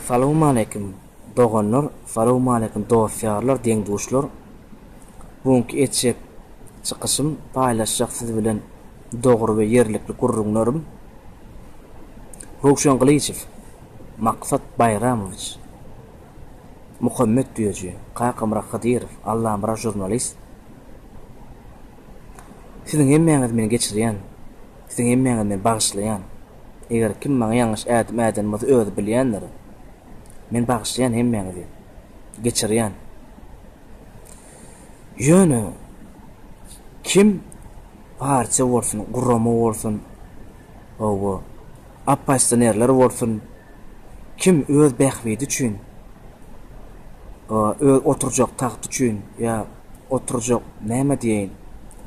Salowmaleýkim doganlar salowmaleýkim dost ýarlar deň duşlar bu günki etjek çykyşym paýlaşjak siz bilen dogry we ýerlikli gürrüňlerim Röwşen Gylyjow Maksat Baýramowiç Muhammet Düýeji, Kakamyrat Hydyrow, Allamyrat žurnalist. Siziň hemmäňiz meni geçirýän. Siziň hemmäňiz meni bagyşlaýan. Eger kim maňa ýalňyş ädim äden bolsa özi bilýändir. Men bagyşlaýan hemmäňizi. Geçirýän. Ýöne kim partiýa bolsun, gurama bolsun, hawa, Oppozisionerler bolsun, kim öz bähbidi üçin, öz oturjak tagty üçin ýa oturjak, näme diýeýin,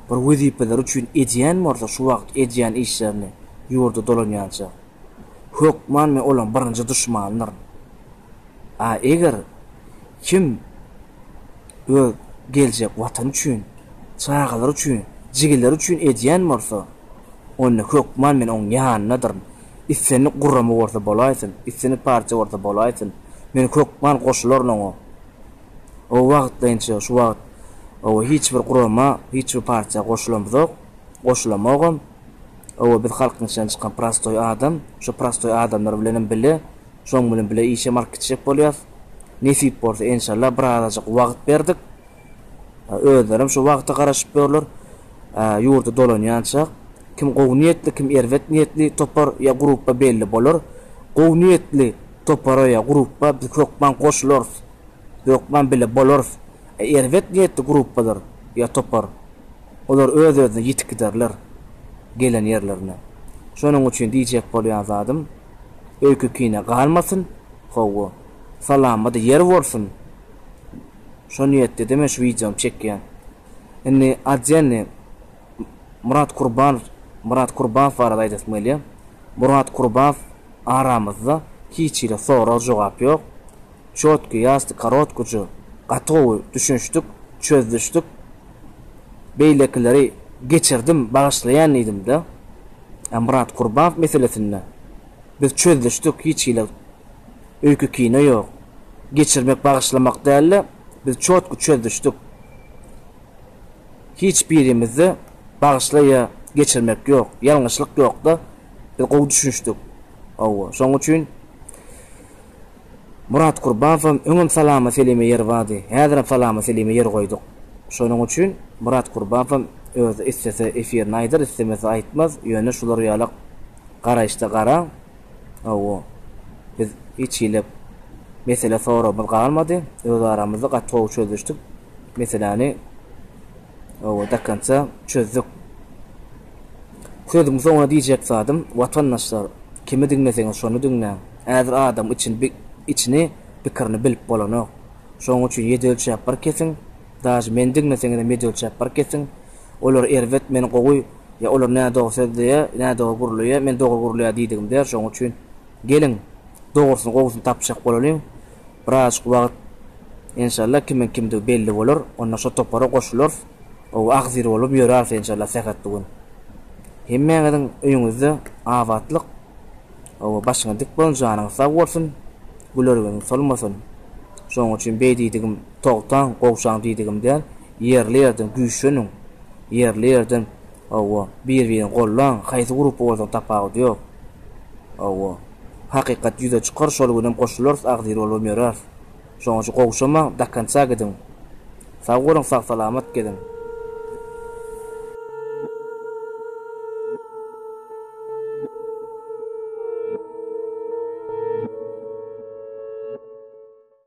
bir wezipeleri üçin edýän bolsa şu wagt edýän işlerini ýurda dolanýança, hökman men olaryň birinji duşmandyryn. A eger kim öz geljek Watany üçin, çagalary üçin, jigileri üçin edýän bolsa, Onda hökman men oň ýanynadyryn. Islendik gurama bolsa bolaýsyn, islendik partiýa bolsa bolaýsyn, men hökman goşularyn oňa. Oba wagtlaýynça şu wagt oba hiç bir gurama, hiç bir partiýa goşulamzok, goşulamogam. Oba biz halkyň içinden çykan prostoý adam, şu prostoý adamlar bilenem bile, şoň bilen bile işem alyp gitjek bolýas. Nesip bolsa enşalla birazajyk wagt berdik. Özlerem şu wagta garaşyp ýörler. Ýurda dolanýança, kim gowy niýetli, kim erbet niýetli topar ýa grupba belli bolar. Gowy niýetli topara ýa grupba biz hökman goşularys, hökman bile bolarys. Ä erbet niýetli grupbalar ýa topar, olar öz-özüne ýetip giderler gelen ýerlerine. Şonuň üçin diýjek bolýan zadym, öýke-kine galmasyn, hawa, salamada ýer bolsun! Şo niýetdede men şu wideony çekýän. Indi Adjenni Murat Kurbanow Murat Kurbaow barada aýdasym gelýär. Murat Kurbaow aramyzda hiç hili sorag-jogap ýok. Çotki, ýasty, korotkuçy, gaty gowy düşünişdik, çözdüşdik. Beýlekileri geçirdim, bagyşlaýan diýdim-de. A Murat Kurbaow meselesinde biz çözdüşdik, hiç hili Öýke kino ýok. Geçirmek bagyşlamak dälde biz çotky çözdüşdik. Hiç birimizde bagyşla ýa geçirmek ýok. Ýalňyşlyk ýokda biz gowy düşünişdik. Howwa şoň üçin Murat Kurbawam öňem salama selime ýer bardy. Häzirem salama selime ýer goýduk. Şonuň üçin Murat Kurbawam özi islese efirini aýdar islemese aýtmaz ýöne şular ýalak garaýyşda garaň. Hawa, biz hiç hili mesele soragymyz galmady, öz aramyzda gaty gowy çözüşdik, meseläni hawa dokonca çözdük. Sözümiň soňuna diýjek zadym, watandaşlar, kimi diňleseňiz şony diňläň, häzir adam içini bi içini pikirini bilip bolanok. Şonuň üçin ýedi ölçäp bir kesiň, dažy meni diňleseňizem ýedi ölçäp bir kesiň, Olar erbet, men gowy, ýa olar nädogry sözleýä, nädogry gürleýä, men dogry gürleýä diýdigim däl, şoň üçin geliň, dogrusyny, gowusyny tapjak bolalyň. Birazajyk wagt, enşalla, kimiň kimdigi belli bolar, onda şo topara goşularys, gowy agzir bolup ýöräris, enşalla, sähetli gün. Hemmäňiziň öýüňizde abatlyk, gowy başyňyz dik bolsun, janyňyz sag bolsun, gülerýüziňiz solmasyn. Şoň üçin beý diýdigim, togtaň, gowşaň diýdigim däl. Ýerli-ýerden güýçleniň. Ýerli-ýerden, hawa, bir-birini gollaň, haýsy gruppa bolsaň tapawudy ýok. Hawa, hakykat ýüze çykar, şol günem goşularys, agzybir bolubam ýöräris. Şonuň üçin gowşamaň, do konca gidiň. Sag boluň, sag-salamat geziň.